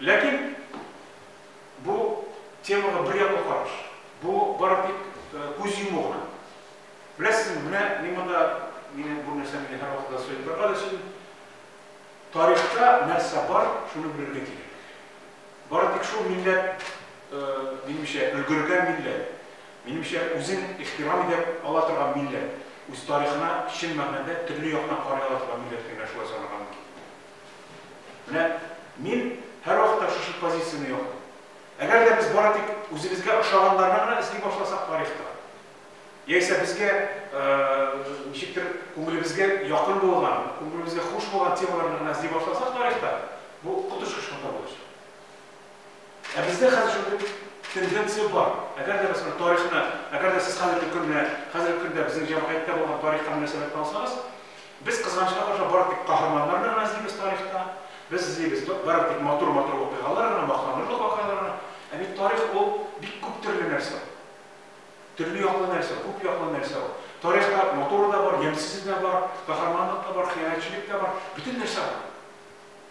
Ләкин бу темага бер яклы караш. Бу бары тик күз йому гына. Беләсезме, менә мин монда, мине бу нәрсә мине һәрвакыт да сөйләп торырга да сөйли. Тарихта нәрсә бар, шуны белергә кирәк. Бары тик шул милләт, минемчә, өлгергән милләт, минемчә, үзен ихтирам итә ала торган милләт, үз тарихына чын мәгънәдә төрле яктан карый ала торган милләт кенә шулай санарга мөмкин. Менә мин һәрвакытта шушы позицияне яклыйм. Әгәр дә без бары тик үзебезгә ошаганнарны гына эзли башласак тарихта, яисә безгә ничектер күңелебезгә якын булган, күңелебезгә хуш булган темаларны гына эзли башласак тарихта, бу коточкыч хата булачак. Ә бездә хәзер шундый тенденция бар. Әгәр дә без тарихны, әгәр дә сез хәзерге көнне, хәзерге көндә безнең җәмгыятьтә булган тарихка мөнәсәбәтне алсагыз, Без, кызганычка каршы, бары тик каһарманнарны гына эзлибез тарихта. Без эзлибез бары тик матур-матур вакыйгалар гына, мактанырлык вакыйгалар гына. Ә бит тарих ул бик күп төрле нәрсә ул. Төрле яклы нәрсә, күп яклы нәрсә ул. Тарихта матуры да бар, ямьсезе дә бар, каһарманлык та бар, хыянәтчелек тә бар, бөтен нәрсә бар.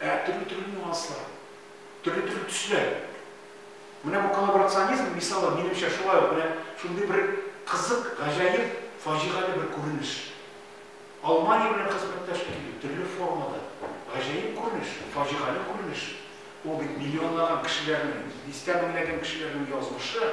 Ә төрле-төрле нюанслар, төрле-төрле төсләр. Менә бу коллаборационизм мисалы, минемчә, шулай ук менә шундый бер кызык, гаҗәеп, фаҗигале бер күренеш. Алмания белән хезмәттәшлек итү, төрле формада, гаҗәеп күренеш, фаҗигале күренеш. Ул бит миллионлаган кешеләрнең, дистә меңләгән кешеләрнең язмышы.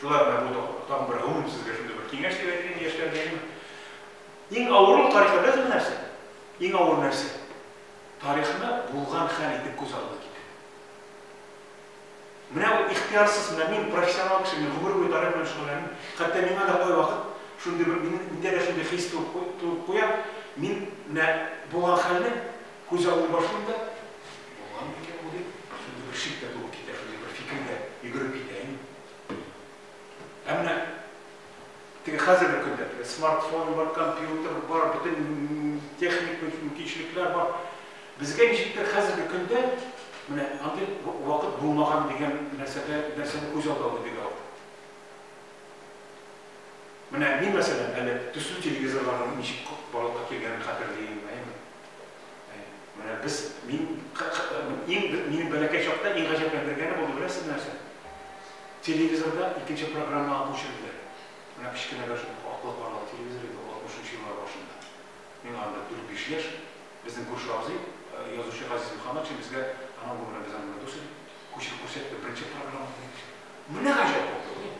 Шулай гына бу да тагын бер гомум сезгә шундый бер киңәш дип әйтим яшьләргә. Иң авырын тарихта беләсез нәрсә? Иң авыр нәрсә? Тарихны булган хәл итеп күз алдына китерү. Менә ул ихтиярсыз, менә мин профессионал кеше, мин гомер буе тарих белән шөгыльләнәм. Хәтта миңа да кайвакыт шундый бер мин миндә дә шундый хис туып куя. Мин менә булган хәлне күз алдына башлыйм да, Булган микән бу дип, шундый бер шик тә туып китә, шундый бер фикер дә йөгереп китә инде. Ә менә теге хәзерге көндә, теге смартфон бар, компьютер бар, бөтен техник мөмкинчелекләр бар. Безгә ничектер хәзерге көндә менә андый вакыт булмаган дигән нәрсәдә нәрсәне күз алды алды бик авыр. Менә мин мәсәлән әле төсле телевизорларның ничек барлыкка килгәнен хәтерлим, әйеме? Менә без, мин, иң, минем бәләкәй чакта иң гаҗәпләндергәне булды, беләсезме нәрсә? Телевизорда икенче программага күчерделәр. Менә кечкенә бер аклы-каралы телевизор иде ул, 60 нчы еллар башында. Миңа анда дүрт-биш яшь. Безнең күрше абзый, язучы Газиз Мөхәммәтшин безгә, анау, бу белән без анда дус идек, күчереп күрсәтте, беренче программа, диде. Менә гаҗәп булды,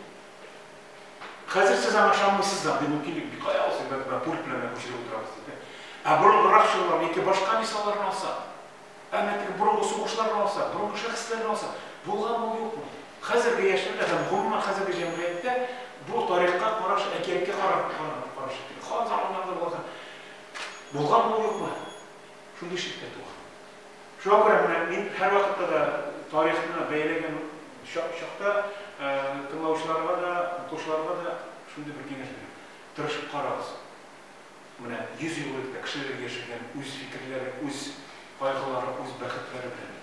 Хәзер сез аңа ышанмыйсыз да, андый мөмкинлек бик кая ул, сез бәлки менә пульт белән генә күчереп утырабыз дип, ә? Ә борынгырак чорларны, яки башка мисалларны алсак, ә менә теге борынгы сугышларны алсак, борынгы шәхесләрне алсак, булганмы ул, юкмы? Хәзерге яшьләрдә һәм гомумән хәзерге җәмгыятьтә бу тарихка караш, әкияткә караш, караш шикелле. Хан заманнарында булган һәм булганмы ул, юкмы? Шундый шиккә туган. Шуңа күрә менә мин һәрвакытта да тарихны бәяләгән чакта тыңлаучыларга да, укучыларга да шундый бер киңәш бирәм. Тырышып карагыз. Менә 100 ел элек тә кешеләр яшәгән, үз фикерләре, үз кайгылары, үз бәхетләре белән.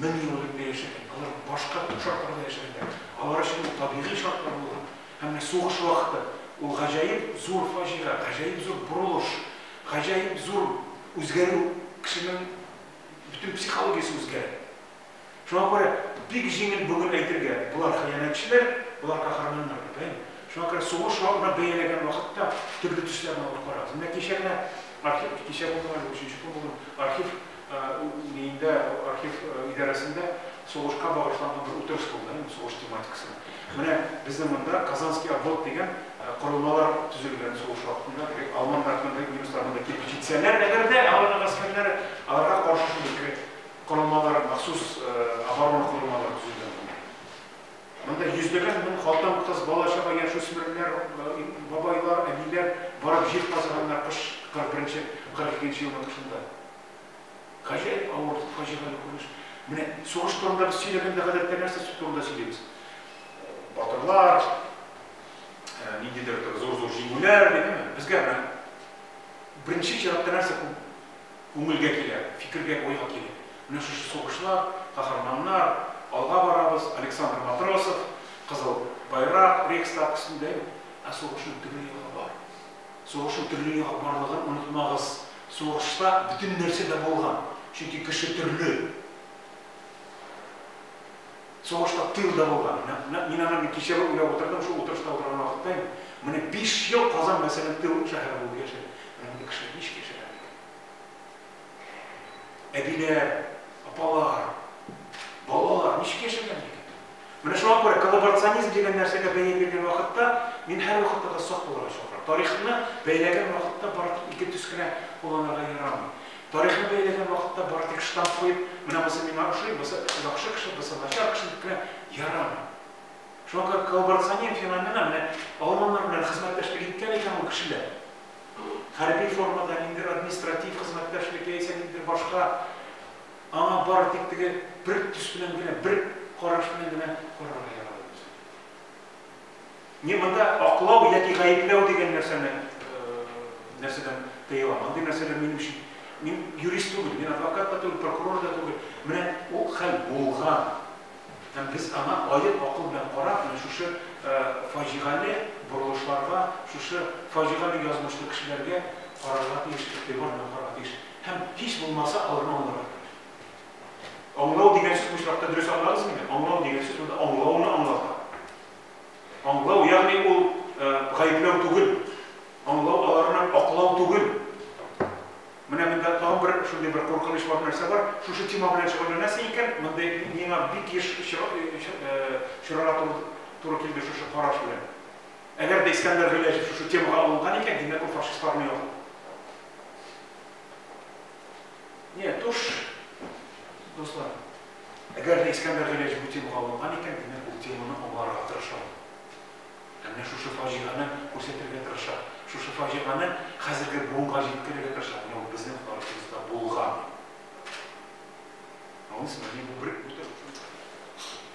мең ел элек тә яшәгән, алар башка төп шартларда яшәгәннәр, алар өчен бу табигый шартлар булган. Һәм менә сугыш вакыты, ул гаҗәеп зур фаҗига, гаҗәеп зур борылыш, гаҗәеп зур үзгәрү, кешенең бөтен психологиясе үзгәрә. Шуңа күрә бик җиңел бүген әйтергә, болар хыянәтчеләр, болар каһарманнар дип, әйеме? Шуңа күрә сугыш вакытына бәяләгән вакытта төрле төсләрне алып карагыз. Менә кичә генә архив, кичә булдымы әллә өченче көн булдымы, архив Миндә архив идарәсендә сугышка багышланган бер утырыш булды, сугыш тематикасына. Менә безнең монда Казанский обвод дигән корылмалар төзелгән сугыш вакытында. Димәк, алманнар монда, немецлар монда килеп җитсәләр, әгәр дә аларның гаскәрләре аларга каршы шундый корылмалар, махсус оборона корылмалары төзелгән монда. Монда йөзләгән мең хатын-кыз, бала-чага, яшүсмерләр, бабайлар, әниләр барып җир казыганнар кыш 41 нче-42 нче елның кышында. Гаҗәеп авыр, фаҗигале күренеш. Менә сугыш турында без сөйләгәндә гадәттә нәрсә турында сөйлибез? Батырлар, ниндидер зур-зур җиңүләр, дигәнме? Безгә менә беренче чиратта нәрсә күп? Күңелгә килә, фикергә, уйга килә. Менә шушы сугышлар, каһарманнар, алга барабыз, Александр Матросов, Кызыл Байрак, Рейхстаг өстендә юк. Ә сугышның төрле ягы бар. Сугышның төрле ягы барлыгын онытмагыз. Сугышта бөтен нәрсә дә булган, чөнки кеше төрле. Сугышта тыел да булган. Нәкъ мин аны кичәве уйлап утырдым, шул утырышта утырган вакытта инде. Менә биш ел Казан, мәсәлән, тыел шәһәре булып яшәде. Менә мондый кешеләр ничек яшәгән микән? Әбиләр, апалар, балалар ничек яшәгән микән? Менә шуңа күрә коллаборационизм дигән нәрсәгә бәя биргән вакытта мин һәрвакытта да сак булырга чакырам. Тарихны бәяләгән вакытта бары тик ике төс кенә кулланырга ярамый. Тарихны бәяләгән вакытта бары тик штамп куеп, менә бусы миңа ошый, бусы яхшы кеше, бусы начар кеше дип кенә ярамый. Шуңа күрә коллаборационер феномена менә алманнар белән хезмәттәшлек иткән икән ул кешеләр. Хәрби формада, ниндидер административ хезмәттәшлек яисә ниндидер башка, аңа бары тик теге бер төс белән генә, бер караш белән генә карарга ярамый. Не, монда аклау яки гаепләү дигән нәрсәне нәрсәдән тыела. Мондый нәрсәләр минем өчен мин юрист түгел, мин адвокат та түгел, прокурор да түгел. Менә ул хәл булган. Һәм без аңа аек акыл белән карап, менә шушы фаҗигале борылышларга, шушы фаҗигале язмышлы кешеләргә карарга тиеш, игътибар белән карарга тиеш. Һәм һич булмаса аларны аңларга кирәк. Аңлау дигән сүз бу очракта дөрес аңладызмыни? Аңлау дигән сүз монда аңлауны аңлата. Аңлау, ягъни ул гаепләү түгел. Аңлау аларның аклау түгел. Менә монда тагын бер шундый бер куркыныч бар нәрсә бар. Шушы тема белән шөгыльләнәсең икән, мондый миңа бик еш очрарга туры килде шушы караш белән. Әгәр дә Искәндәр Гыйләҗев шушы темага алынган икән, димәк ул фашистларны яклый. Нет, уж, дуслар, әгәр дә Искәндәр Гыйләҗев бу темага алынган икән, димәк, ул теманы аңларга тырыша ул. Ә менә шушы фаҗигане күрсәтергә тырыша. Шушы фаҗиганы хәзерге буынга җиткерергә тырыша. Менә ул безнең тарихыбызда булган. Аңлыйсызмы? Мин бу бер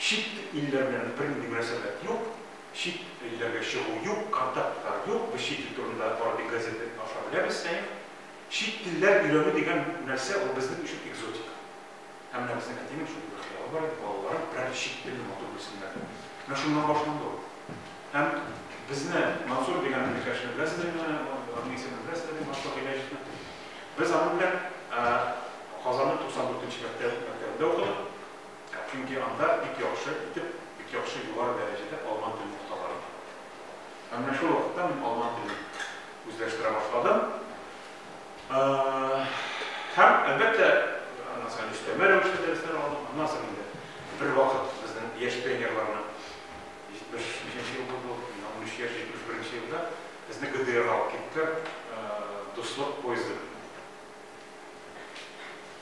Чит илләр белән бернинди мөнәсәбәт юк, чит илләргә чыгу юк, контактлар юк, без чит ил турында Арби газеты аша беләбез, Сәем. Чит телләр өйрәнү дигән нәрсә ул безнең өчен экзотика. Ә менә безнең әтинең шундый бер хыялы бар иде, балалары берәр чит телне матур белсеннәр дип. Менә шуннан башланды ул. Һәм безне, Мансур дигән иптәшне беләсездер инде, аның исемен беләсездер инде, Мансур Гыйләҗевны. Без аның белән Казанның 94 нче мәктәбендә укыдык. Чөнки анда бик яхшы итеп, бик яхшы югары дәрәҗәдә алман телен укыталар иде. Һәм менә шул вакытта мин алман телен үзләштерә башладым. Һәм, әлбәттә, аннан соң өстәмә рәвештә дәресләр алдым. Аннан соң инде бер вакыт безнең яшь пионерларны 75-нче ел булды, миңа 13 яшь, 71-нче елда безне ГДРга алып киттеләр, Дуслык поезды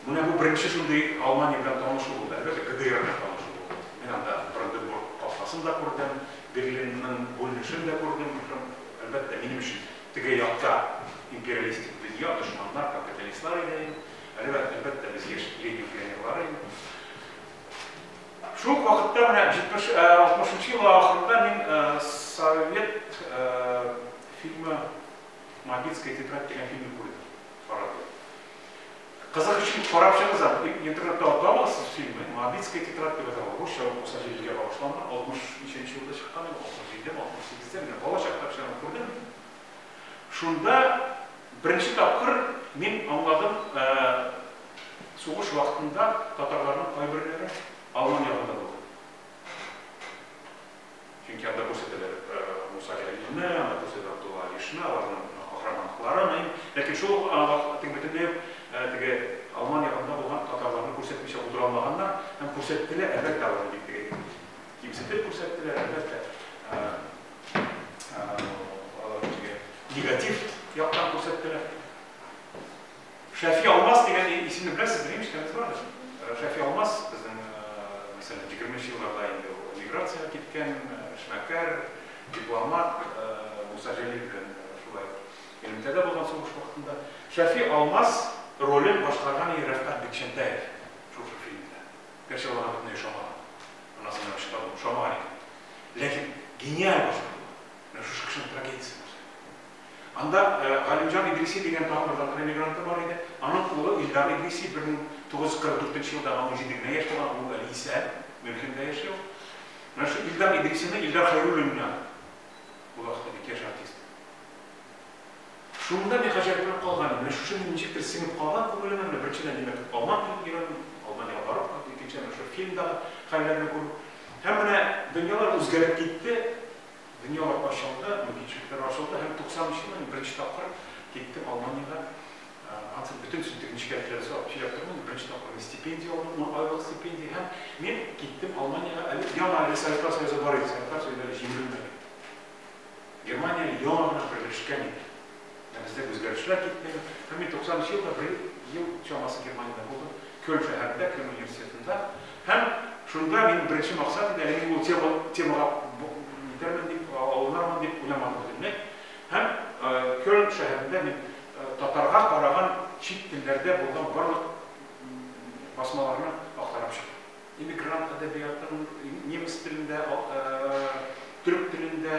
Менә бу беренче шундый Алмания белән танышу булды, әлбәттә, ГДР белән танышу булды. Мин анда Бранденбург капкасын да күрдем, Берлинның бүленешен дә күрдем, һәм, әлбәттә, минем өчен теге якта империалистик дөнья, дошманнар, капиталистлар иде. Әлбәттә, әлбәттә, без яшь Ленин пионерлары идек. Шул ук вакытта менә 60 нчы еллар ахырында мин Совет фильмы Мобильская тетрадь дигән фильмны күрдем. Карадым. Кызык өчен карап чыгыгыз әле. Бик интернетта алып табасыз фильмы. Мавицкая тетрадь дип яза. Русча ул 97 га багышланган. 60 ничәнче елда чыккан ул? 67 ме, 68 дә менә бала чакта печән күрдем. Шунда беренче тапкыр мин аңладым, сугыш вакытында татарларның кайберләре Алман ягында булды. Чөнки анда күрсәтәләр Муса Җәлилне, анда күрсәтәләр Габдулла Алишны, аларның каһарманлыкларын. Ләкин шул ук вакытта бөтенләй үк теге Алман ягында булган татарларны күрсәтмичә утыра алмаганнар һәм күрсәттеләр, әлбәттә, аларны бик теге кимсетеп күрсәттеләр, әлбәттә, аларны теге негатив яктан күрсәттеләр. Шәфи Алмаз дигән исемне беләсезме? Ишеткәнегез бардыр. Э, Шәфи Алмаз безнең, э, мәсәлән, 20 елларда инде эмиграциягә киткән, э, эшмәкәр, дипломат, Муса Җәлил белән шулай элемтәдә булган сугыш вакытында. Шәфи Алмаз ролен башкарган иде Рәфкать Бикчәнтәев шушы фильмда. Гәрчә ул аңа бөтенләй ошамаган. Аннан соң ошамаган икән. Ләкин гениаль башкару. Менә шушы кешенең трагедиясе. Анда Галимҗан Идриси дигән тагын бер татар эмигранты бар иде. Аның улы Илдар Идриси, 1944 елда аңа унҗиде генә яшь тулган, ул әле исән, Мюнхенда яши ул. Менә шул Илдар Идрисины Илдар Хәйруллин генә булыгты бит, яшь артист. Шунда мин гаҗәпләнеп калган идем, менә шушы мин ничектер сеңеп калган күңелемә, менә беренчедән, димәк, Алман килеп йөрәм, Алманиягә барып кайту, икенчедән, менә шул фильмдагы хәлләрне күрү. Һәм менә дөньялар үзгәреп китте. Дөньялар ачылды, мөмкинчелекләр ачылды һәм 93 елда мин беренче тапкыр киттем Алманиягә. Ансы бөтен сүтек нечкәлекләрсез алып сөйләп тормыйм. Беренче тапкыр мин стипендия алдым, ун айлык стипендия һәм мин киттем Алманиягә. Әле яңа әле Советлар Союзы бар иде, Советлар Союзы әле җимерелмәгән иде. Германия яңа гына берләшкән иде. Ә бездә үзгәрешләр китмәгән. Һәм мин 90 нчы елда бер ел чамасы Германиядә булдым, Кёлн шәһәрендә, Кёлн университетында. Һәм шунда минем беренче максат иде, әле мин ул тема, темага итәрмен дип, алынырмын дип уйламадым бөтенләй. Һәм Кёлн шәһәрендә мин татарга караган чит телләрдә булган барлык басмаларны актарып чыктым. Эмигрант әдәбиятын немец телендә, төрек телендә,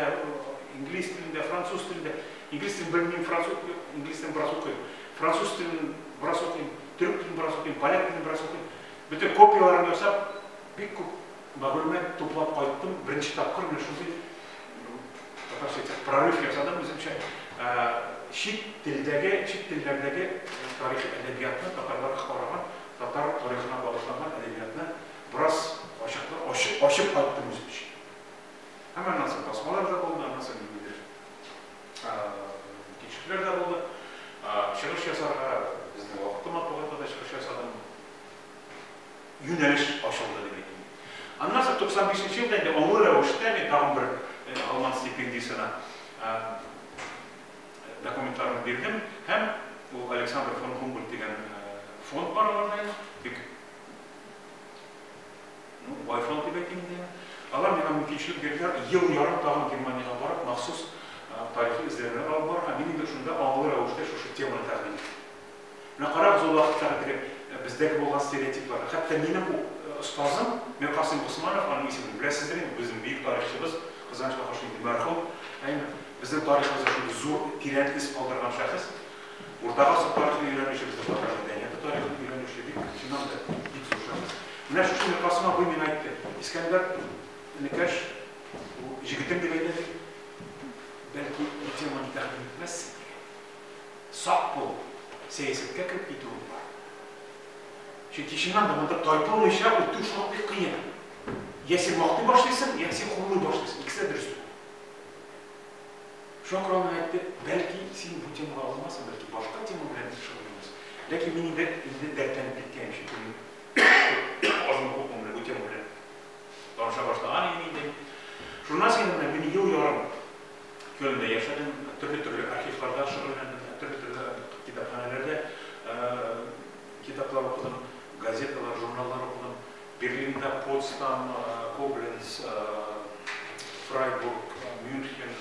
инглиз телендә, француз телендә, инглиз телен белмим, француз, инглиз телен бераз укыйм, француз телен бераз укыйм, төрек телен бераз укыйм, поляк телен бераз укыйм. Бөтен копияләрен ясап, бик күп мәгълүмат туплап кайттым. Беренче тапкыр менә шундый татарча әйтсәк, прорыв ясадым үземчә. Чит телдәге, чит телләрдәге тарихи әдәбиятны татарлар караган Татар тарихына багышланган әдәбиятны бераз ачыклы, ачып, ачып кайттым үзем өчен. Һәм аннан соң басмалар да булды, аннан соң ниндидер тикшерүләр дә булды. Чыгыш ясарга безнең вакытлы матбугатта да чыгыш ясадым. Юнәлеш ачылды дип әйтим. Аннан соң 95 нче елда инде олы рәвештә мин тагын бер Алман стипендиясенә Документларымны бирдем һәм ул Александр фон Гумбольд дигән фонд бар аларда, бик ну, бай фонд дип әйтим инде. Алар миңа мөмкинчелек бирделәр, ел ярым тагын Германиягә барып, махсус тарихи эзләнүләр алып барырга. Мин инде шунда аңлы рәвештә шушы теманы тәкъдим иттем. Менә карагыз, ул вакыттагы теге бездәге булган стереотипларга. Хәтта минем остазым Миркасыйм Госманов, аның исемен беләсездер инде, безнең бөек тарихчыбыз, Казанч Кахаш инде мәрхүм, әйме, безнең тарихыбызда шундый зур, тирән эз калдырган шәхес. Урта гасыр тарихын өйрәнүче, безнең татар мәдәнияте тарихын өйрәнүче бик феномен, бик зур шәхес. Менә шушы Миркасыйм абый миңа әйтте, Искәндәр, энекәш, бу җегетем дип әйтә бит, бәлки бу теманы тәкъдим итмәссең? Сак бул, сәясәткә кереп китүең бар. Чөнки чыннан да монда тайпылмыйча үтү шактый кыен. Йә син мактый башлыйсың, йә син хурлый башлыйсың, икесе дә дөрес түгел. Шакыр аның әйтте, бәлки син бу темага алынмасын, бәлки башка тема белән дә шөгыльләнерсең. Ләкин мин инде инде дәртләнеп киткәнем, чөнки мин азмы күпме менә бу тема белән таныша башлаган идем инде. Журналист янына мин ел ярым Кёльндә яшәдем, төрле-төрле архивларда шөгыльләндем, төрле-төрле китапханәләрдә китаплар укыдым, газеталар, журналлар укыдым. Берлинда, Потсдам, Кобленц, Фрайбург, Мюнхен,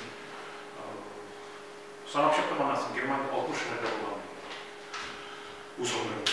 санап чыктым аннан соң, Германиядә 60 шәһәрдә булган үз гомеремдә.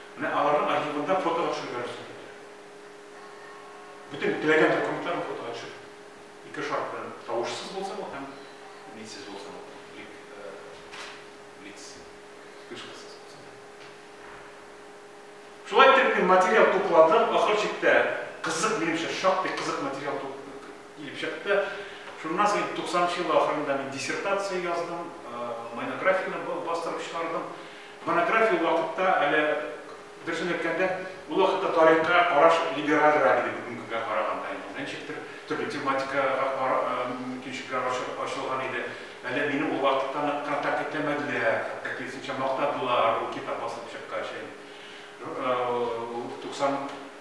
Менә аларның архивында фотога төшереп бирәсең, диде. Бөтен теләгән документларын фотога төшереп. Ике шарт белән, тавышсыз булсын ул һәм мидсез булсын ул, блик, блиц, вспышкасыз булсын. Шулай итеп мин материал тупладым, ахыр чиктә кызык, минемчә, шактый кызык материал килеп чыкты. Шуннан соң инде туксанынчы еллар ахырында мин диссертация яздым, монографияне бастырып чыгардым. Монография вакытта, әле, дөресен әйткәндә, ул вакытта тарихка караш либералрак иде бүгенгегә караганда инде. Ничектер, төрле тематикага кара, мөмкинчелекләр ачылган иде. Әле мине ул вакытта нык контакт итәмәделәр, ә киресенчә, мактадылар ул китап басылып чыккач. Туксан.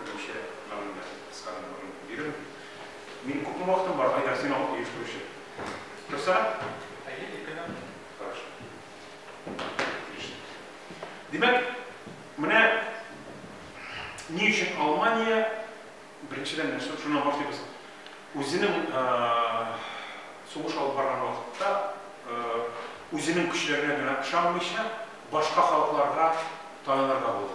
Беренче гамәлләр, кыскарак борын бирү. Мин күпме вакытым бар, Айдар, син алып оештыручы. Торса? Әйе, ике генә. Хорошо. Отлично. Димәк, менә ни өчен Алмания, беренчедән нәрсә, шуннан башлыйбыз. Үзенең сугыш алып барган вакытта үзенең көчләренә генә ышанмыйча, башка халыкларга таянырга булды.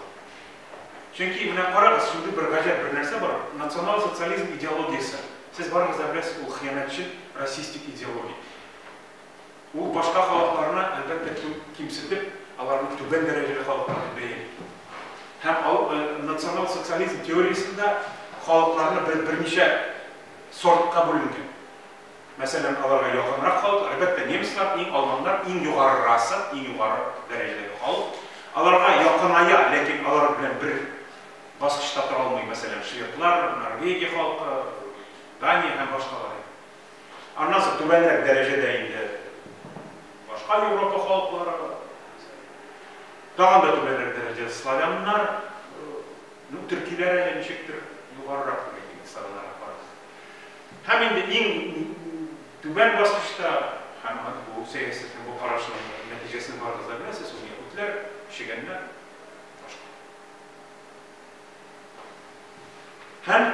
Чөнки, менә карагыз, шундый бер гаҗәп бер нәрсә бар, национал-социализм идеологиясе. Сез барыгыз да беләсез, ул хыянәтчел, расистик идеология. Ул башка халыкларны, әлбәттә, кимсетеп, аларны түбән дәрәҗәле халыклар дип бәяли. Һәм ал, э, национал-социализм теориясендә халыкларны бер, берничә сортка бүленгән. мәсәлән, аларга якынрак халык, әлбәттә, немецлар, иң алманнар, иң югарырасы, иң югары дәрәҗәдәге халык. Аларга якыная, ләкин алар белән бер баскычта тора алмый, мәсәлән, шведлар, Норвегия халкы, Дания һәм башкалар. Аннан соң түбәнрәк дәрәҗәдә инде башка Европа халыклары бар. Тагын да түбәнрәк дәрәҗәдә славяннар, ну, төркиләр әле ничектер югарырак. Һәм инде иң түбән баскычта, һәм бу сәясәт һәм бу карашның нәтиҗәсен барыгыз да беләсез, ул яһүдләр, чегәннәр, башка. Һәм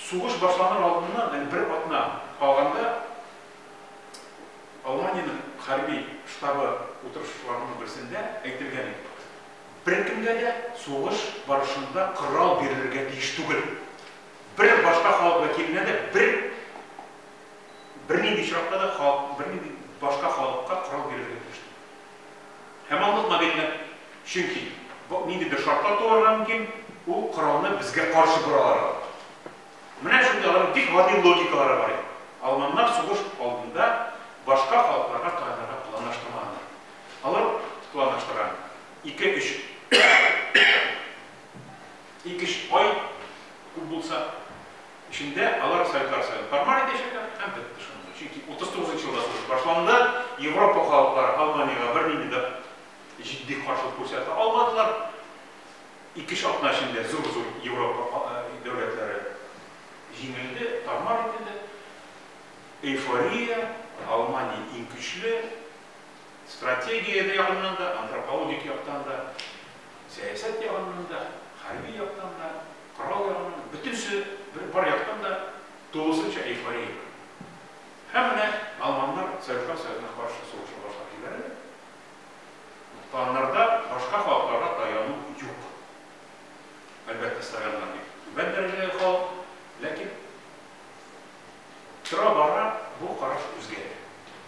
сугыш башланыр алдыннан, һәм бер атна калганда, Алманиянең хәрби штабы утырышларының берсендә әйтелгән иде. Беркемгә дә сугыш барышында корал бирелергә тиеш түгел. бер башка халык вәкиленә дә бер бернинди очракта да халык, бернинди башка халыкка корал бирергә тиеш түгел. Һәм аңлатма бирелә. Чөнки ниндидер шартлар туарга мөмкин, ул коралны безгә каршы боралар. Менә шундый аларның бик гади логикалары бар иде. Алманнар сугыш алдында башка халыкларга таянырга планлаштырмаганнар. Алар планлаштырган ике-өч Ике-өч ай күп булса эчендә алар советлар союзын формаль итәчәкләр һәм бетте шунда. Чөнки 39 нчы елда сугыш башланды, Европа халыклары Алманиягә бернинди дә җитди каршылык күрсәтә алмадылар. Ике-өч атна эчендә зур-зур Европа дәүләтләре җиңелде, тар-мар ителде. Эйфория, Алмания иң көчле. Стратегия ягыннан да, антропологик яктан да, сәясәт ягыннан да, хәрби яктан да, корал ягыннан да, бөтенесе бер бар яктан да тулысынча эйфория бар. Һәм менә алманнар Советлар Союзына каршы сугыша башлап җибәрәләр. Планнарда башка халыкларга таяну юк. Әлбәттә, славяннар бик түбән дәрәҗәдәге халык, ләкин тора-бара бу караш үзгәрә.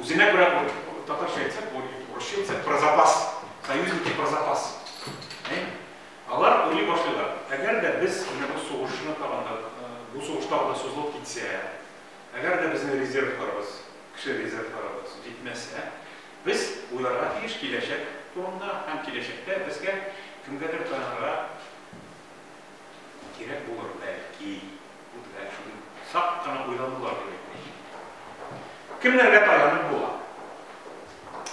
Үзенә күрә ул, татарча әйтсәк, бу урысча әйтсәк, про запас, союзники про запас. Алар уйлый башлыйлар, әгәр дә без менә бу сугышны тагын да, бу сугыш тагын да сузылып китсә, әгәр дә безнең резервларыбыз, кеше резервларыбыз җитмәсә, без уйларга тиеш киләчәк турында һәм киләчәктә безгә кемгәдер таянырга кирәк булыр, бәлки. Үтүләр өчен сак кына уйланулар кирәк бит. Кемнәргә таянып була?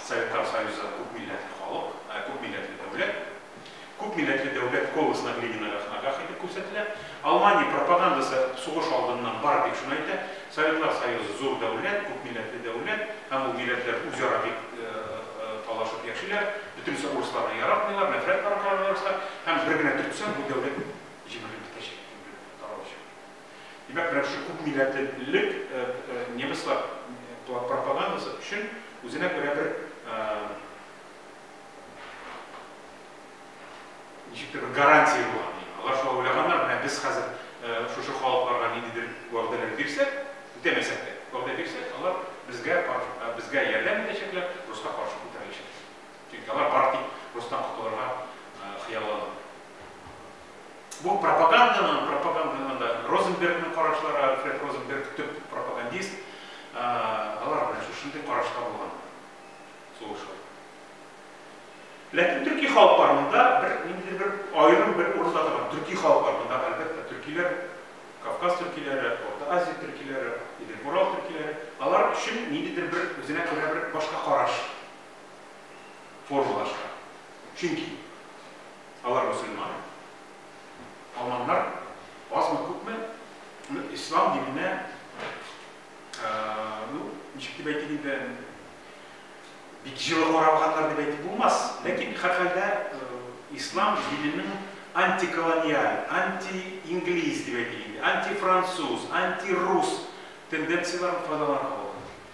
Советлар Союзы күп милләтле халык, ә күп милләтле дәүләт. Күп милләтле дәүләт колосына Ленинага хнагах итеп күрсәтелә. Алмания пропагандасы сугыш алдыннан бары тик шуны әйтә, Советлар Союзы зур дәүләт, күп милләтле дәүләт, һәм ул милләтләр үзара бик талашып яшиләр, бөтенесе урысларны яратмыйлар, нәфрәт тараталар урыслар, һәм бер генә төртсәң, бу дәүләт җимерелеп бетәчәк. Короче. Димәк, менә шушы күп милләтлелек немецлар пропагандасы өчен үзенә күрә бер ничектер бер гарантия була. Алар шулай уйлаганнар, менә без хәзер шушы халыкларга ниндидер вәгъдәләр бирсәк, үтәмәсәк тә, вәгъдә бирсәк, алар безгә безгә ярдәм итәчәкләр, руска каршы күтәреләчәк. Чөнки алар бары тик рустан котылырга хыяллана. Бу пропаганданың, пропаганданың да Розенбергның карашлары, Альфред Розенберг төп пропагандист, алар белән шушындый карашта булган сугышлар. Ләкин төрки халыклар монда бер ниндидер бер аерым бер урында торган. Төрки халыклар монда әлбәттә төркиләр, Кавказ төркиләре, Орта Азия төркиләре, Идел-Урал төркиләре, алар өчен ниндидер бер үзенә күрә бер башка караш. формалаша. Чөнки алар мөселман. Алманнар азмы күпме ислам диненә, ну, ничек дип әйтик инде, бик җылы каралганнар дип әйтеп булмас, ләкин һәрхәлдә ислам диненең антиколониаль, анти-инглиз дип әйтик инде, антифранцуз, антирус тенденцияләрен файдаланырга була.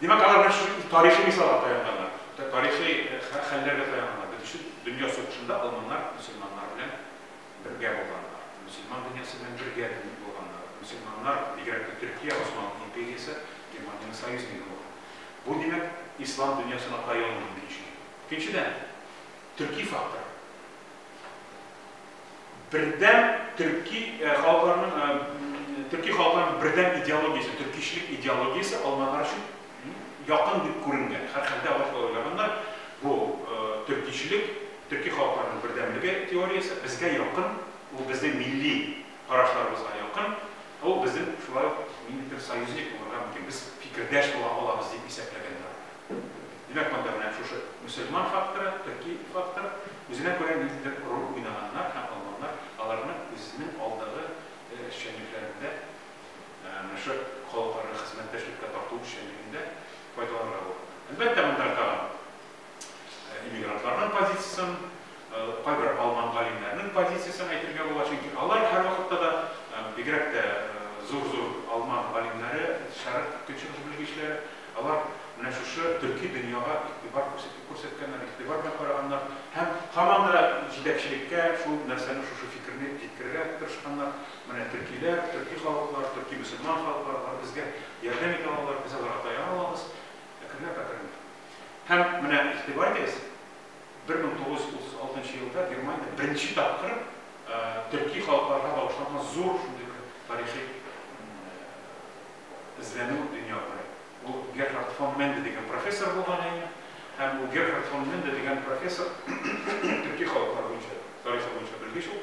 Димәк, алар менә шушы тарихи мисалга таянганнар, тарихи хәлләргә таянганнар. Дүнче дөнья сугышында алманнар мөселманнар белән бергә булганнар, мөселман дөньясы белән бергә булганнар. Мөселманнар, бигрәк тә Төркия, Госман империясе, Германиянең союзнигы булган. Бу, димәк, ислам дөньясына таяну мөмкинчелеге. Икенчедән. төрки фактор. Бердәм төрки халыкларның төрки халыкларның бердәм идеологиясе, төркичлек идеологиясе алманар өчен якын дип күренгән. Һәрхәлдә алар шулай уйлаганнар. Бу төркичлек, төрки халыкларның бердәмлеге теориясе безгә якын, ул безнең милли карашларыбызга якын, ул безнең шулай ук ниндидер союзник булырга мөмкин, без фикердәш була алабыз дип исәпләгәннәр. Димәк, монда менә шушы мөселман факторы, төрки фактор, үзенә күрә ниндидер роль уйнаганнар һәм алманнар аларны үзенең алдагы эшчәнлекләрендә, менә шул халыкларга хезмәттәшлеккә тарту эшчәнлегендә файдаланырга булганнар. Әлбәттә, монда тагын иммигрантларның позициясен кайбер алман галимнәренең позициясен әйтергә була, чөнки алар һәрвакытта да, бигрәк тә зур-зур алман галимнәре, шәрык көнчыгыш белгечләре, алар менә шушы төрки дөньяга игътибар күрсәтеп күрсәткәннәр, игътибар белән караганнар һәм һаман да җитәкчелеккә шул нәрсәне, шушы фикерне җиткерергә тырышканнар, менә төркиләр, төрки халыклар, төрки мөселман халыклар, алар безгә ярдәм итә алалар, без аларга таяна алабыз, ә кемнәр, катәрләр? Һәм менә игътибар итегез, Бер мең тугыз йөз утыз алтынчы елда Германия беренче тапкыр төрки халыкларга багышланган зур шундый бер тарихи эзләнү дөнья күрә. Ул Герхард фон Менде дигән профессор булган иде. Һәм ул Герхард фон Менде дигән профессор төрки халыклар буенча тарихы буенча белгеч ул.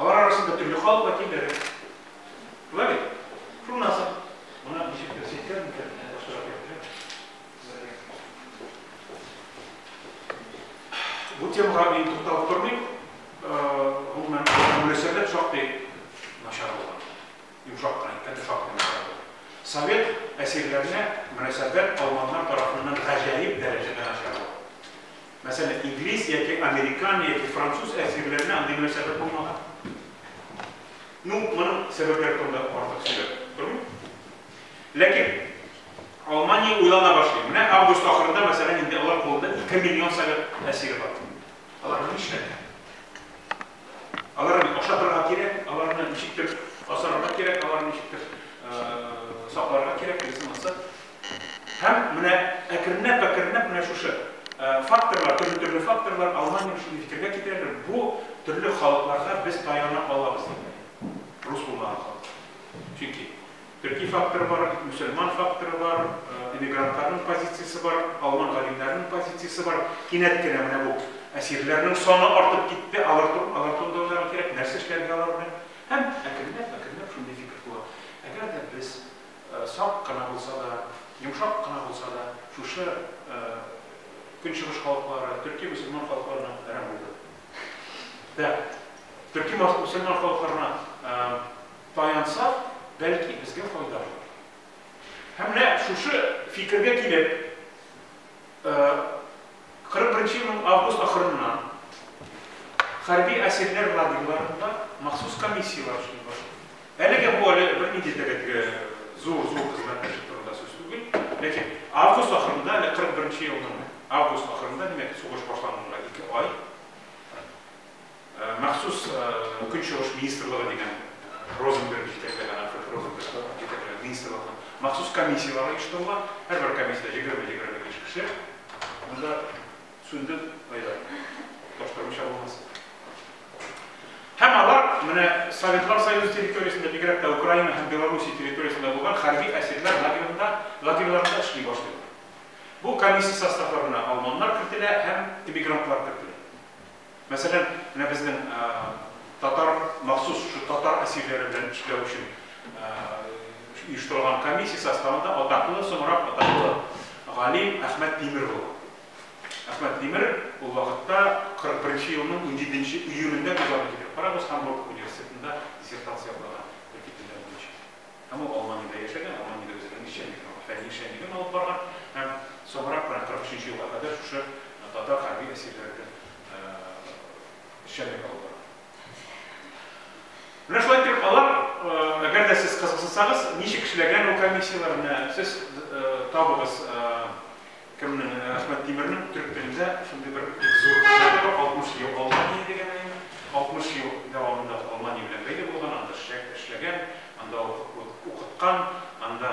Алар арасында төрле халык вәкилләре. Шулай бит? Шуннан соң моны ничек күрсәтер микән? Менә башлап йөрдем. Сезгә. Бу темага мин тукталып тормыйм. Гомумән, мөнәсәбәт шактый начар булган. Йомшак кына әйткәндә шактый начар булган. Совет әсирләренә мөнәсәбәт алманнар тарафыннан гаҗәеп дәрәҗәдә начар булган. Мәсәлән, инглиз яки американ яки француз әсирләренә андый мөнәсәбәт булмаган. Ну, моның сәбәпләре турында артык сөйләп тормыйм. Ләкин Алмания уйлана башлый. Менә август ахырында, мәсәлән, инде алар кулында 2 миллион совет әсире бар. Аларны нишләргә? Аларны ашатырга кирәк, аларны ничектер асарга кирәк, аларны ничектер сакларга кирәк, дигән сыман. Һәм менә әкренләп-әкренләп менә шушы факторлар, төрле-төрле факторлар Алманиягә шундый фикергә китерәләр, бу төрле халыкларга без таяна алабыз дип, рус булмаган халыклар. Чөнки төрки факторы бар, мөселман факторы бар, эмигрантларның позициясе бар, алман галимнәренең позициясе бар. Кинәт кенә менә бу әсирләрнең саны артып китте, алар турында уйларга кирәк, нәрсә эшләргә алар белән. Һәм әкренләп-әкренләп шундый фикер туа. Әгәр дә без Сак кына булса да, йомшак кына булса да, шушы Көнчыгыш халыклары, төрки мөселман халыкларына әрәм булды. Дә, төрки мөселман халыкларына таянсак, бәлки безгә файда булыр. Һәм менә шушы фикергә килеп, Кырык беренче елның август ахырыннан хәрби әсирләр лагерьларында махсус комиссияләр эшли башлый. Әлегә бу әле бернинди тәгәрәге зур-зур хезмәт эше турында сүз түгел, ләкин август ахырында, әле кырык беренче елның август ахырында, димәк, сугыш башлануына ике ай, Махсус Көнчыгыш министрлыгы дигән Розенберг җитәкләгән, Альфред Розенберг җитәкләгән министрлыкның махсус комиссияләре оештырыла. Һәрбер комиссиядә егерме-егерме биш кеше. Монда сүнде Айдар. Таптырмыйча булмас. Һәм алар менә Советлар Союзы территориясендә, бигрәк тә Украина һәм Белоруссия территориясендә булган хәрби әсирләр лагерында, лагерьларында эшли башлыйлар. Бу комиссия составларына алманнар кертелә һәм эмигрантлар кертелә. Мәсәлән, менә безнең татар махсус шушы татар әсирләре белән эшләү өчен оештырылган комиссия составында атаклы, соңрак атаклы галим Әхмәт Тимер булган. Әхмәт Тимер ул вакытта 41 елның 17 июнендә күз алдына килә. Карагыз, Хамбург университетында диссертация укыган. Һәм ул Алманиядә яшәгән, Алманиядә үзенең эшчәнлеген, фәнни эшчәнлеген алып барган һәм соңрак менә 43 нче елга кадәр шушы татар хәрби әсирләрендә эшчәнлек алып барган. Менә шулай итеп алар, әгәр дә сез кызыксынсагыз, ничек эшләгән ул комиссияләр, менә сез табыгыз. Кемнең? Ә, Әхмәт Тимернең төрек телендә шундый бер бик зур сүзләре бар, 60 ел Алмания дигән әйе. 60 ел дәвамында Алмания белән бәйле булган, анда эшлә, эшләгән, анда уку, уку, укыткан, анда,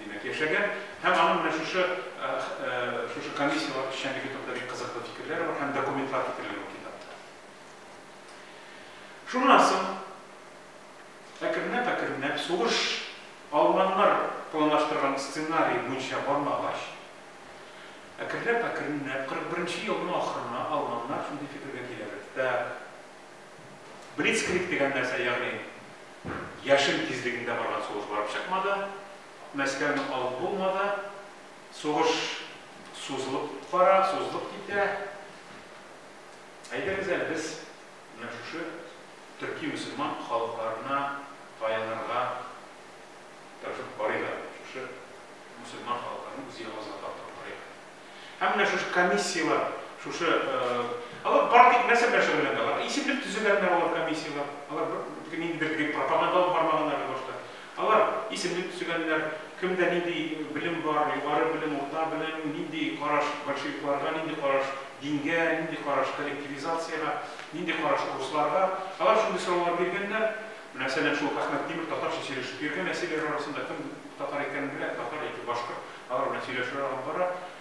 димәк, яшәгән. Һәм аның менә шушы, ә, ә, шушы комиссияләр эшчәнлеге турында бик кызыклы фикерләре бар һәм документлар китерелгән бу китапта. Шуннан соң. Әкренләп-әкренләп сугыш алманнар планлаштырган сценарий буенча бармагач, әкренләп-әкренләп 41-нче елның ахырына алманнар шундый фикергә киләләр, Так, блицкриг дигән нәрсә, ягъни яшен тизлегендә барган сугыш барып чыкмады, Мәскәүне алып булмады, сугыш сузылып бара, сузылып китә, әйдәгез әле без. Менә шушы төрки-мөселман халыкларына таянырга тырышып карыйк әле. Шушы мөселман халыкларны үз ягыбызга тартып карыйк әле. Һәм менә шушы комиссияләр, шушы, алар партик нәрсә белән шөгыльләнгән? Алар исемлек төзегәннәр алар комиссияләр. Алар бер, нинди бер пропаганда алып бармаганнар әле башта. Алар, исемлек төзегәннәр, кемдә нинди белем бар, югары белем, урта белем, нинди караш большевикларга, нинди караш дингә, нинди караш коллективизациягә, нинди караш урысларга. Алар шундый сораулар биргәннәр. Менә Сәләм шул Әхмәт Тимер татарча сөйләшеп йөргән, әсирләр арасында кем татар икәнен белә, татар яки башкорт, алар белән сөйләшүләр алып бара.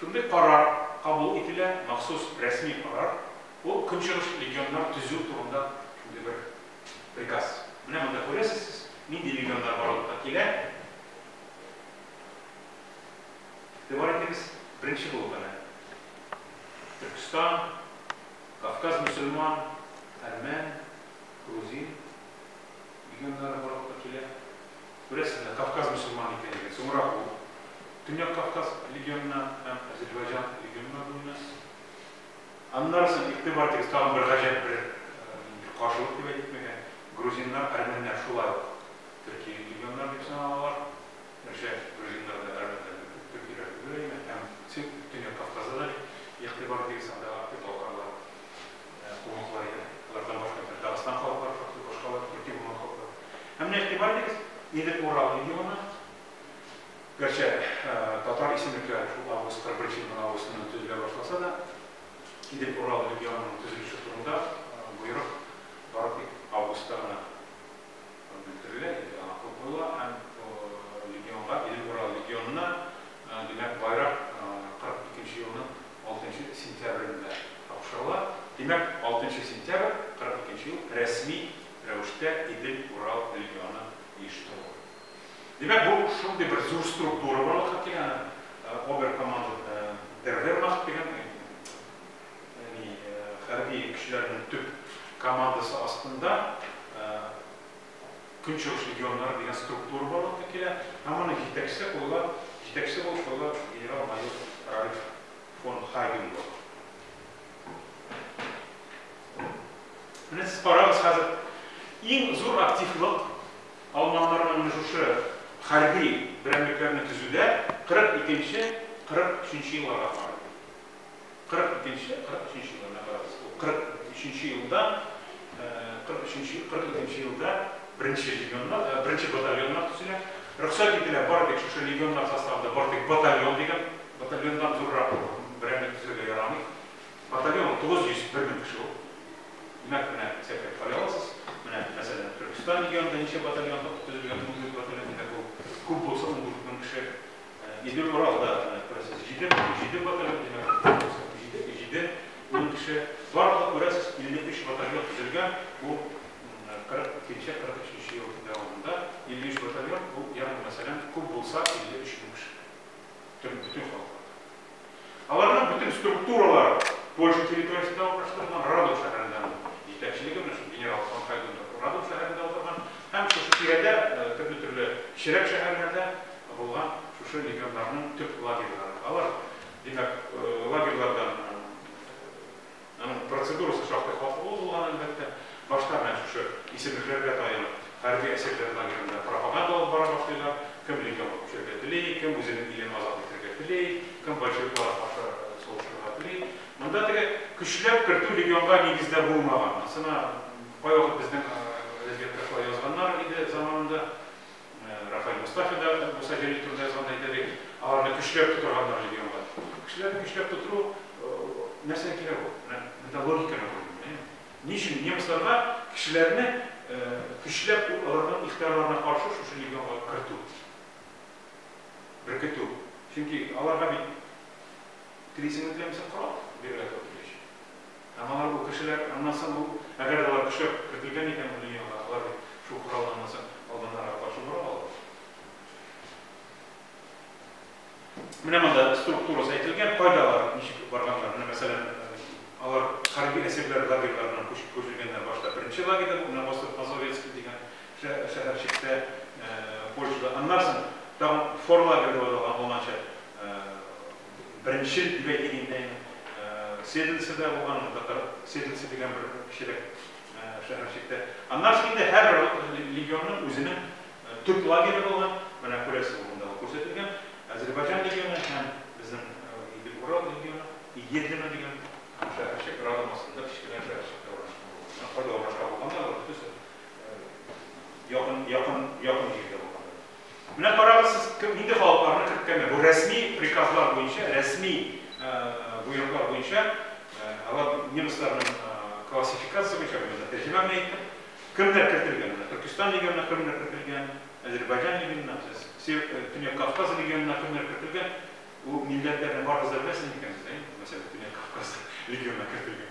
Шундый карар кабул ителә, махсус рәсми карар, ул Көнчыгыш легионнар төзү турында шундый бер приказ. Менә монда күрәсез сез, нинди легионнар барлыкка килә. Игътибар итегез, беренче булып әнә Төркестан, Кавказ мөселман, әрмән, грузин, Дигәннәре барлыкка килә. Күрәсең, ә Кавказ мөселман икән икән, соңрак ул Төньяк Кавказ легионына һәм Азербайҗан легионына бүленә. Аннары соң, игътибар итегез, тагын бер гаҗәп бер бер каршылык дип әйтмәгән, грузиннар, әрмәннәр шулай ук төрки легионнары дип саналалар. Гәрчә грузиннар да, әрмәннәр дә төркиләр түгел, әмма һәм Төньяк Кавказда да, игътибар итегез, анда актив балкарлар. кулланыла иде. Алардан башка бит Дагыстан халыклары шактый башкалар, төрки булмаган халыклар. Ә менә игътибар итегез, нидер Урал регионы, гәрчә татар исемлекләре шул август 41 елның августыннан төзелә башласа да, Идел Урал регионының төзелеше турында боерык бары тик августта гына. Бетерелә инде аңа купюралар һәм легионга илле бер ал легионны, димәк, байрак 42 нче елның 6 нчы сентябрендә тапшырыла. Димәк, 6 нчы сентябрь 42 нче ел рәсми рәвештә Идел Урал легионы оештырыла. Димәк, бу шундый бер зур структура барлыкка килә, аны оберкомандер Вервермахт дигән Әни хәрби көчләренең төп командасы астында Көнчыгыш легионнары дигән структура барлыкка килә. Һәм аны җитәкче кылган, җитәкче булып кылган генерал-майор Ральф фон Хайденбург. Менә сез карагыз хәзер иң зур активлык алманнарның менә шушы хәрби берәмлекләрне төзүдә 42-43 елларга карый. Кырык икенче, кырык өченче елларына карагыз. Ул кырык өченче елда, кырык өченче, кырык икенче елда беренче легионнар, беренче батальоннар төзелә. Рөхсәт ителә бары тик шушы легионнар составында бары тик батальон дигән, батальоннан зуррак берәмлек төзергә ярамый. Батальон 901 мең кеше ул. Димәк, менә исәпләп карый аласыз. Менә, мәсәлән, Төркестан легионында ничә батальон төзелгән, 14 батальон, димәк, ул күп булса 14 мең кеше. Идел Уралда, күрәсез, җиде җиде батальон димәк, җиде җиде мең кеше. Барлыгы, күрәсез, 53 батальон төзелгән, бу 42-нче, 43-нче ел дәвамында 53 батальон, бу, ягъни мәсәлән, күп булса 53 мең кеше. Бөтен бөтен халыкларда. Аларның бөтен структуралары Польша территориясендә урнаштырылган, Радом шәһәрендә аның җитәкчелеге менә шул генерал фон Хайдендорф Радом шәһәрендә утырган һәм шушы тирәдә төрле-төрле кечерәк шәһәрләрдә булган шушы легионнарның төп лагерьлары. Алар, димәк, лагерьлардан Аның процедурасы шактый катлаулы булган, әлбәттә. Башта менә шушы исемлекләргә таянып, хәрби әсирләр лагеренда пропаганда алып бара башлыйлар. Кем легионга күчәргә тели, кем үзенең илен азат итәргә тели, кем большевикларга каршы сугышырга тели. Монда теге көчләп кертү легионга нигездә булмаган. Анысына кайвакыт безнең газетта шулай язганнар иде заманында. Рафаэль Мостафин да Муса Җәлил турында язганда әйтә бит, аларны көчләп тотырганнар легионга. Кешеләрне көчләп тотыру нәрсәгә кирәк ул? Менә монда логиканы күрдем, әйеме? Ни өчен немецларга кешеләрне көчләп үк аларның ихтыярларына каршы шушы легионга кертү, беркетү? Чөнки аларга бит трициметрәмсә корал бирергә туры киләчәк. Ә моңар бу кешеләр, аннан соң ул, әгәр дә алар көчләп кертелгән икән бу дөньяга, алар бит шул коралны аннан соң алданнарга каршы бора алалар. Менә монда структурасы әйтелгән, кайда алар ничек барганнар, менә мәсәлән, алар хәрби әсирләр лагерьларына күчеп күчергәннәр башта беренче лагерьда, бу менә Остров Мазовецкий дигән шәһәрчектә, Польшада, аннан соң тагын Форлагерь дип аталган, ул анча Беренче дибәйт инде Седлицеда булган, монда татар Седлица дигән бер кечерәк шәһәрчектә. Аннан соң инде һәр легионның үзенең төп лагере булган, менә күрәсез, монда күрсәтелгән, Азербайҗан легионы һәм безнең Идел Урал легионы, Едлино дигән шәһәрчек, Радом астында кечкенә шәһәрчектә урнашкан булган. Менә кайда урнашкан булганнар, алар бөтенесе якын, якын, якын җирдә булганнар. Менә карагыз сез кем нинди халыкларны керткәннәр. Бу рәсми приказлар буенча, рәсми боерыклар буенча, алар немецларның классификация буенча мин монда тәрҗемә генә иттем. Кемнәр кертелгән? Менә Төркестан регионына кемнәр кертелгән? Азербайҗан регионына, Төньяк Кавказ регионына кемнәр кертелгән? Бу милләтләрне барыгыз да беләсез микән сез, әй? Мәсәлән, Төньяк Кавказ регионына кертелгән.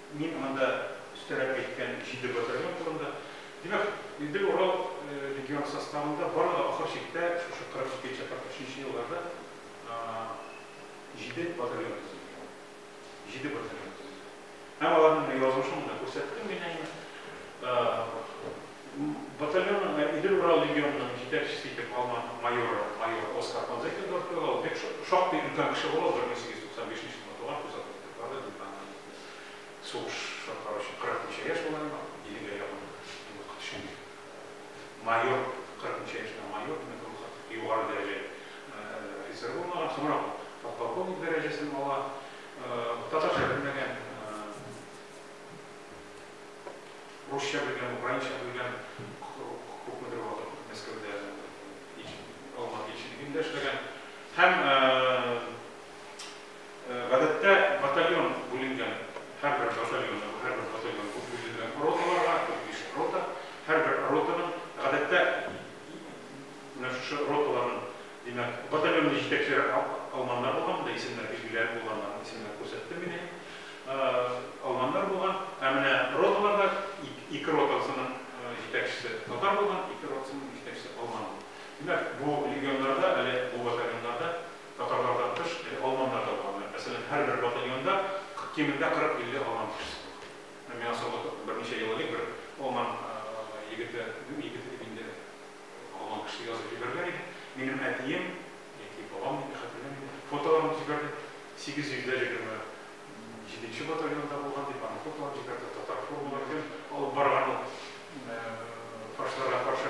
Мин монда өстәрәк әйткән җиде батальон турында. Димәк, Идел-Урал легионы составында барлыгы ахыр чиктә шушы 42 нче, 43 нче елларда җиде батальон төзелгән. Җиде батальон төзелгән. Һәм аларның язмышы монда күрсәттем мин әнә. Батальонның Идел-Урал легионының җитәкчесе итеп алма майоры, майор Оскар Панзекин дорф куела. Ул бик шактый өлкән кеше була, ул 1895 нче елда туган, күз алдына китереп барды, мин аны Сугышка караучы кырык ничә яшь була инде, иллегә якын юк шикелле. Майор, кырык ничә яшьтә майор, димәк, ул хәтле югары дәрәҗә офицер булмаган, соңрак ул подполковник дәрәҗәсен ала. Татарча белмәгән, русча белгән, украинча белгән, күпмедер вакыт Мәскәүдә Алматы илчелегендә эшләгән һәм Гадәттә батальон бүленгән һәрбер батальон, бу һәрбер батальон бу бүленгән роталарга, дүрт биш рота, һәрбер ротаның, гадәттә, менә шушы роталарның, димәк, батальонның җитәкчеләре алманнар булган, монда исемнәр билгеләнеп булганнар, исемнәр күрсәттем мин әнә, алманнар булган, ә менә роталарда ике ротасының җитәкчесе татар булган, ике ротасының җитәкчесе алман булган. Димәк, бу легионнарда, әле бу батальоннарда, Татарлардан тыш, әле алманнар да булганнар. Мәсәлән, һәрбер батальонда кемендә 40-50 алман кешесе булган. Менә миңа соңгы берничә ел элек бер алман егете, ну, егете дип инде, алман кеше язып җибәргән иде. Минем әтием, яки бабам дип хәтерләмим, фотоларын җибәрде. 827 нче батальонда булган дип, аның фотоларын җибәрде, татар формалары белән алып барган ул фашларга каршы.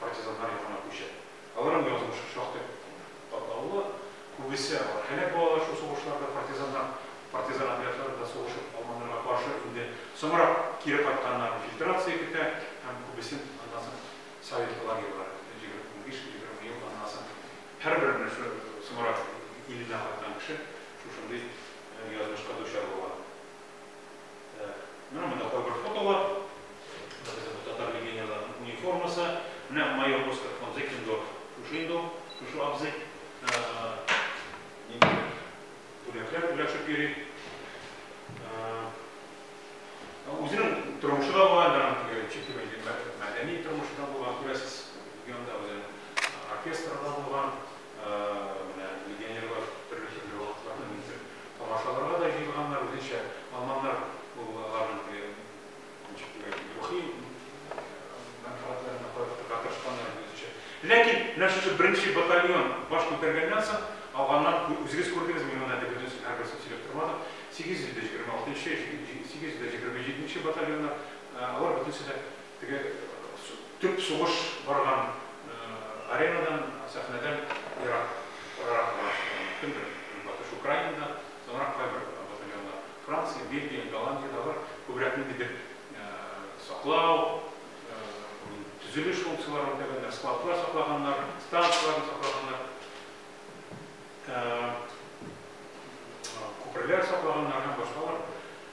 партизаннар ягына күчә. Аларның язмышы шактый катлаулы. Күбесе алар һәлак булалар шул сугышларда, партизаннар партизан отрядларында сугышып алманырга каршы инде соңрак кире кайтканнар фильтрация көтә һәм күбесен аннан соң советлы лагерьлар егерме унбиш егерме ел аннан соң һәрбер менә шул соңрак иленә кайткан кеше шушындый язмышка дучар була. Менә монда кайбер фотолар. Безнең татар легионерларының униформасы. Менә майор Оскар фон Зекендорф шушы инде ул, шушы абзый. Нинди бүләкләр бүләшеп йөри. Үзенең тормышы да була, мәдәни тормышы да була, күрәсез, легионда үзенең оркестры да булган. Менә легионерлар төрле-төрле вакытларда нидер тамашаларга да җыелганнар, үзенчә алманнар ул аларның теге ничек дигән рухи мәнфәгатьләренә карап торырга тырышканнар иде үзенчә. Ләкин менә шушы беренче батальон баш күтәргәннән соң алганнар, үзегез күрдегез, мин моны әле бөтенесен һәрберсен сөйләп тормадым, 826 нчы, 827 нче батальоннар, алар бөтенесе дә Теге төп сугыш барган аренадан, сәхнәдән ерак, арырак урнашкан. Кемдер Көнбатыш Украинада, соңрак кайбер батальоннар Франция, Бельгия, Голландиядә бар. Күбрәк ниндидер саклау, төзелеш функцияләрен үтәгәннәр, складлар саклаганнар, станцияләрне саклаганнар, күперләр саклаганнар һәм башкалар.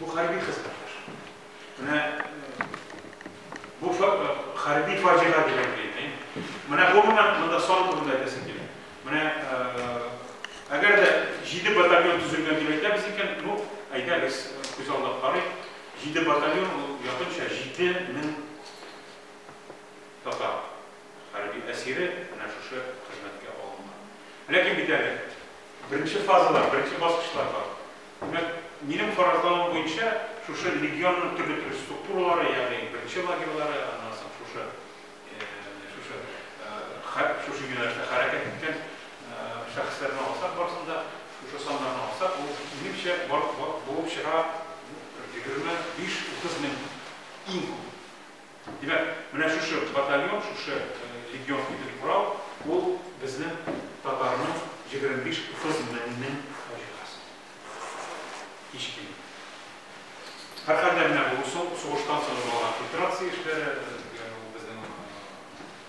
Бу хәрби хезмәттәш. Менә бу хәрби фаҗига дигән килде. Менә гомумән монда сан турында әйтәсем килә. Менә әгәр дә 7 батальон төзелгән дип әйтәбез икән, ну, әйдәгез, күз алдына карыйк. 7 батальон ул якынча 7000 татар хәрби әсире менә шушы хезмәткә алынган. Ләкин бит әле беренче фазалар, беренче баскычлар бар. Димәк, минем фаразлавым буенча, шушы легионның төрле-төрле структуралары, ягъни беренче лагерьлары, аннан соң шушы, шушы, шушы юнәлештә хәрәкәт иткән шәхесләрне алсак, барысын да, шушы саннарны алсак, ул, минемчә, булып чыга, егерме биш-утыз мең, иң күп. Димәк, менә шушы батальон, шушы легионский дип корал, ул безнең татарның 25-30 меңнең фаҗигасы. Һич кимеми. Һәрхәлдә, менә бу сугыштан соң булган фильтрация эшләре,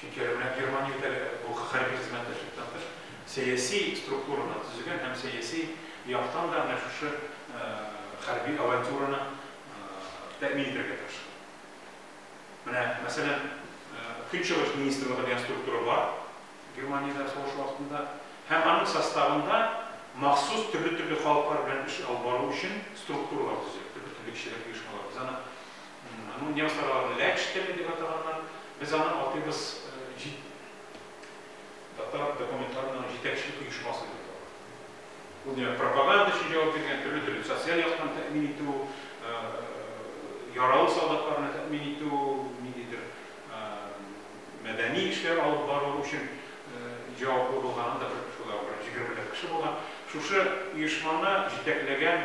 Чөнки әле менә Германия үтә әле бу хәрби хезмәттәшлекнтән тыш сәяси структураны төзегән һәм сәяси яктан да менә шушы хәрби авантюраны тәэмин итәргә тырышкан. Менә, мәсәлән, Көнчыгыш министрлыгы дигән структура бар Германиядә сугыш вакытында һәм аның составында махсус төрле-төрле халыклар белән эш алып бару өчен структуралар төзелә, төрле-төрле кешелек оешмалары. Без аны Аны немцлар аларны ләкш теле дип атаганнар. Без аны атыйбыз җит татар документларының җитәкчелек оешмасы дип атала. Ул димәк пропаганда өчен җавап биргән, төрле төрле социаль яктан тәэмин итү, яралы солдатларны тәэмин итү, ниндидер мәдәни эшләр алып бару өчен җаваплы булган, анда бер шулай ук беренче германлар кеше булган. Шушы оешманы җитәкләгән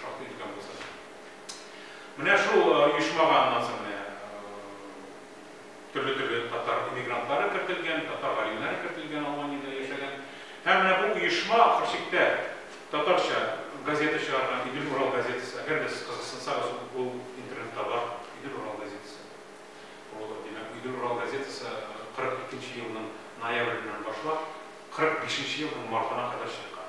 Шактый өлкән булса да. Менә шул оешмага аннан соң менә төрле-төрле татар эмигрантлары кертелгән, татар галимнәре кертелгән, Алманиядә яшәгән. Һәм менә бу оешма ахыр чиктә татарча газета чыгарган, Идел Урал газетасы. Әгәр дә сез кызыксынсагыз, ул интернетта бар, Идел Урал газетасы. Ул, димәк, Идел Урал газетасы 42 елның ноябреннән башлап, 45 елның мартына кадәр чыккан.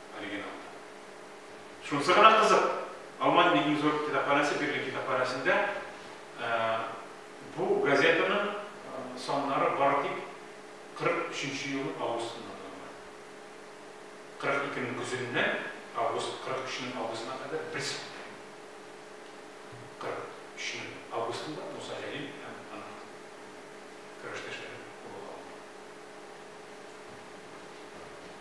оригиналда. Шунысы гына кызык, Алмаз Бигнизоров китапханәсе Берлин китапханәсендә бу газетаның саннары бары тик 43-нче елның августында булган. 42-нең көзеннән август 43-нең августына кадәр бер сәгатьтә. 43-нең августында Муса Җәлил һәм аның көрәштәшләре куыла алды.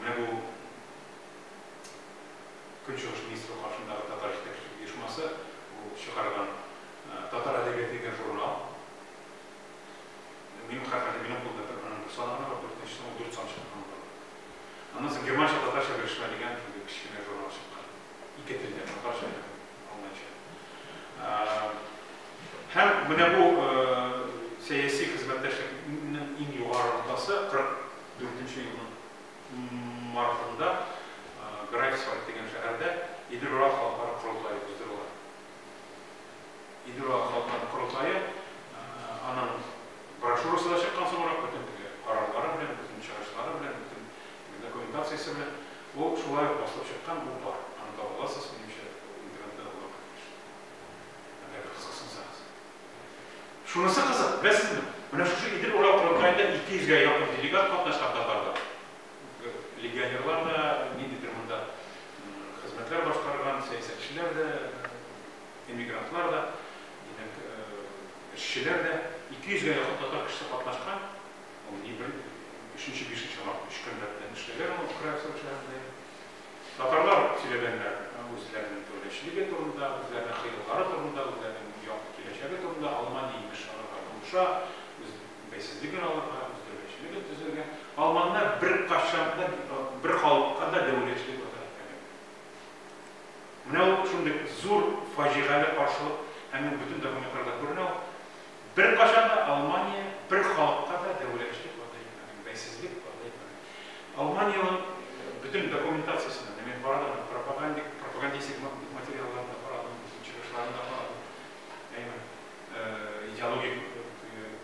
Менә бу Көнчыгыш министры каршындагы татар җитәкчелек оешмасы бу чыгарган Татар әдәбияты дигән журнал. Минем хәтердә минем кулда бер аның бер саны гына бар, дүртенчесен ул дүрт сан чыккан була. Аннан соң германча татарча белешмә дигән шундый кечкенә журнал чыккан. Ике телдә, татарча һәм алманча. Һәм менә бу сәяси хезмәттәшлекнең иң югары ноктасы, 40 Дүртенче елның мартында Грайфсвальд дигән шәһәрдә Идел-Ура халыкара корылтае уздырыла. Идел-Ура халыкара корылтае аның брошюрасы да чыккан соңрак бөтен теге карарлары белән, бөтен чыгышлары белән, бөтен документациясе белән ул шулай ук басылып чыккан, ул бар. Аны таба аласыз, минемчә, интернетта да була, әгәр кызыксынсагыз. Шунысы кызык, беләсезме, менә шушы Идел Урал корылтаенда 200 гә якын делегат катнашкан татарлар, легионерлар да, ниндидер монда хезмәтләр башкарган сәясәтчеләр дә, эмигрантлар да, димәк, эшчеләр дә, 200 гә якын татар кешесе катнашкан, ул ни бер өченче-бишенче март, өч көн рәттән эшләгән ул, Краевск шәһәрендә. Татарлар сөйләгәннәр үзләренең дәүләтчелеге турында, үзләренең хыяллары турында, үзләренең якты киләчәге турында, Алмания имеш аларга булыша, үз бәйсезлеген алырга, үз дәүләтчелеген төзергә. Алманнар беркайчан да бер халыкка да дәүләтчелек вәгъдә итмәгәннәр. Менә ул шундый зур фаҗигале каршылык, әмма бөтен документларда күренә ул. Беркайчан да Алмания бер халыкка да дәүләтчелек вәгъдә итмәгән, бәйсезлек вәгъдә итмәгән. Алманиянең бөтен документациясенә менә мин карадым аны, пропагандик, пропагандистик материалларын да карадым, чыгышларын да карадым, әйе, идеологик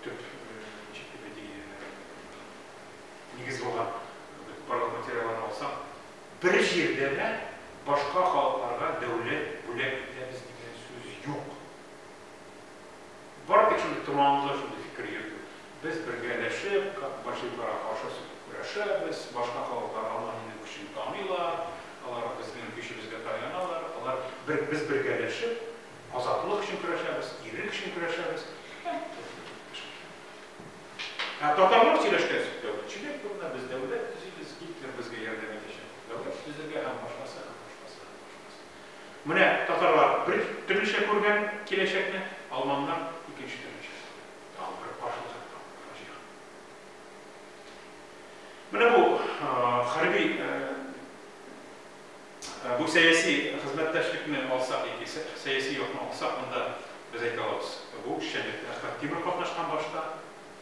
төп нигез булган барлык материалларны алсаң, бер җирдә дә башка халыкларга дәүләт бүләк итәбез дигән сүз юк. Бар бит шундый томанлы шундый фикер йөртү. Без бергәләшеп, как большевикларга каршы сүтеп көрәшәбез, башка халыклар Алманиянең көчен таныйлар, алар безнең көчебезгә таяналар, алар бер без бергәләшеп азатлык өчен көрәшәбез, ирек өчен көрәшәбез. Һәм без бергәләшәбез. Ә татарлар сөйләшкән сүз дәүләт. Чиләк турында без дәүләт төзибез, Гитлер безгә ярдәм итәчәк дип дәүләт төзергә һәм башкасы, һәм башкасы, һәм башкасы. Менә татарлар бер төрлечә күргән киләчәкне, алманнар икенче төрлечә күргән. Тагын бер каршылык, тагын бер фаҗига. Менә бу хәрби, бу сәяси хезмәттәшлекне алсак яки сәяси якны алсак, монда без әйтә алабыз, бу эшчәнлектә Әхмәт Тимер катнашкан башта.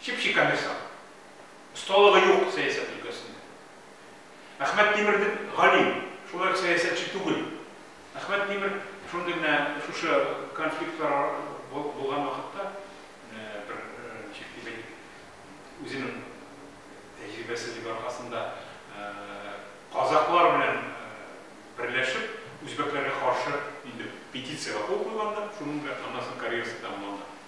Чеп-чи комиссар. Осталыгы юк сәясәт өлкәсендә. Әхмәт Тимер дип галим, шулай ук сәясәтче түгел. Әхмәт Тимер шундый менә шушы конфликтлар булган вакытта бер ничек дип әйтик, үзенең тәҗрибәсезлеге аркасында казаклар белән берләшеп, үзбәкләргә каршы инде петициягә кул куйган да, шуның белән аннан соң карьерасы тәмамланган.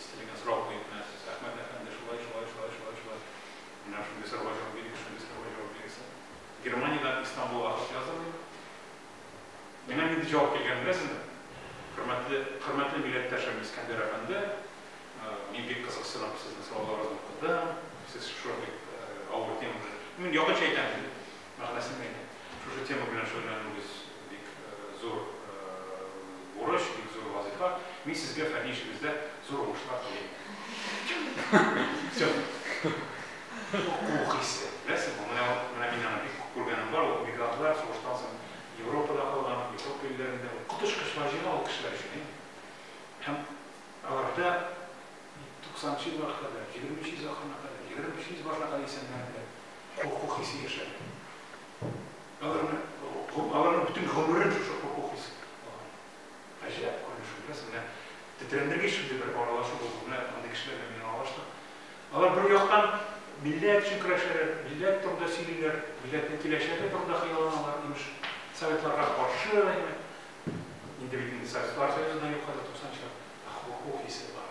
Истәлеген сорап куеп менә сез, Әхмәт әфәнде, шулай, шулай, шулай, шулай, шулай. Менә шундый сорауга җавап бирегез, шундый сорауга җавап бирегез. Германиядән Истанбулга хат яздым мин. Миңа нинди җавап килгәнен беләсезме? Хөрмәтле, хөрмәтле милләттәшем Искәндәр әфәнде, мин бик кызыксынып сезнең сорауларыгызны укыдым. Сез шундый авыр тема белән, мин якынча әйтәм, мәгънәсен әйтеп, шушы тема белән шөгыльләнүегез бик зур бурыч, бик зур вазыйфа. Мин сезгә фәнни эшегездә зур уңышлар телим. Уку хисе, беләсез, бу менә менә мин аны бик күргәнем бар, ул мигрантлар сугыштан соң Европада калган, Европа илләрендә уку тышкычлар җыйна ул кешеләр өчен. Һәм аларда 90 нчы елларга кадәр, 20 нчы исәпләргә кадәр, 23 нче исәпләргә кадәр исәннәр иде. хокук хисе яшәде. Аларны, аларның бөтен гомерен шушы хокук хисе алган. Гаҗәп күренеш, күрәсең, менә тетрәндергеч шундый бер аралашу булды, менә андый кешеләр белән мин аралаштым. Алар бер яктан милләт өчен көрәшәләр, милләт турында сөйлиләр, милләтнең киләчәге турында хыялланалар, имеш, советларга каршы, әйме. Инде бит инде советлар союзы да юк хәзер 90 чор, ә хокук хисе бар.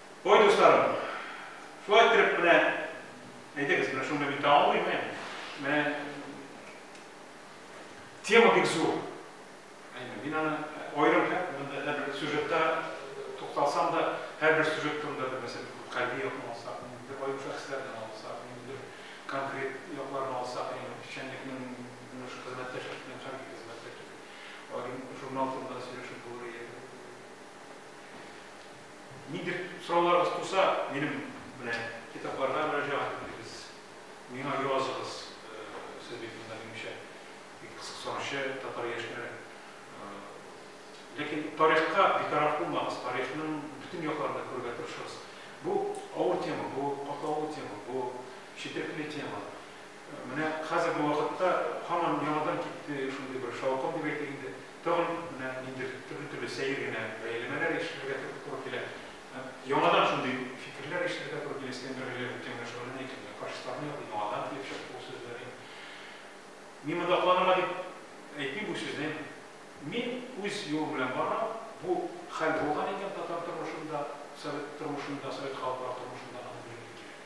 Ой, дусларым, шулай иттереп менә, әйдәгез, менә шунда мин тәмамлыйм, ә? Менә тема бик зур. Әйме, мин аны аерым монда һәр бер сюжетта тукталсам да, һәр бер сюжет турында бер мәсьәлә кайбер якын алса, бер аерым шәхесләрне алса, бер конкрет якларны алса, әйме, печәнлекнең менә шу хезмәттәшлек белән хәрби хезмәттәшлек, аерым журнал турында сөйләшеп булыр иде. Нидер сорауларыгыз туса, минем менә китапларга мөрәҗәгать итегез, миңа языгыз, сез бит монда минемчә бик кызыксанучы татар яшьләре. Ләкин тарихка битараф булмагыз, тарихның бөтен якларын да күрергә тырышыгыз. Бу авыр тема, бу катлаулы тема, бу четерекле тема. Менә хәзерге вакытта һаман яңадан китте шундый бер шаукым дип әйтик инде. Тагын менә ниндидер төрле-төрле сәер генә бәяләмәләр ишетергә туры килә. Яңадан шундый фикерләр ишетергә туры килә, Искәндәр Гыйләҗев үткән белән шөгыльләнә икән, менә фашистларны яклый, яңадан килеп чыкты бу сүзләр. Мин монда акланырга дип әйтмим бу сүзне. Мин үз юлым белән барам. Бу хәл булган икән татар тормышында, совет тормышында, совет халыклар тормышында, аны белергә кирәк.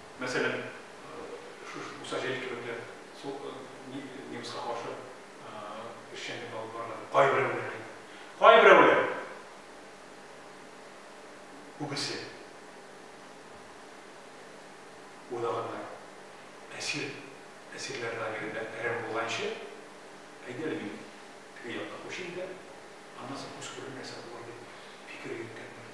Мәсәлән, шушы Муса Җәлил кебекләр су ни немецка каршы эшчәнлек алып барган кайберәүләр әйтә. Кайберәүләр күбесе уйлаганнар. Әсир әсирләр лагерендә әрәм булганчы, әйдә әле мин теге якка күчим дә, аннан соң күз күрер нәрсә булыр дип фикер йөрткәннәр.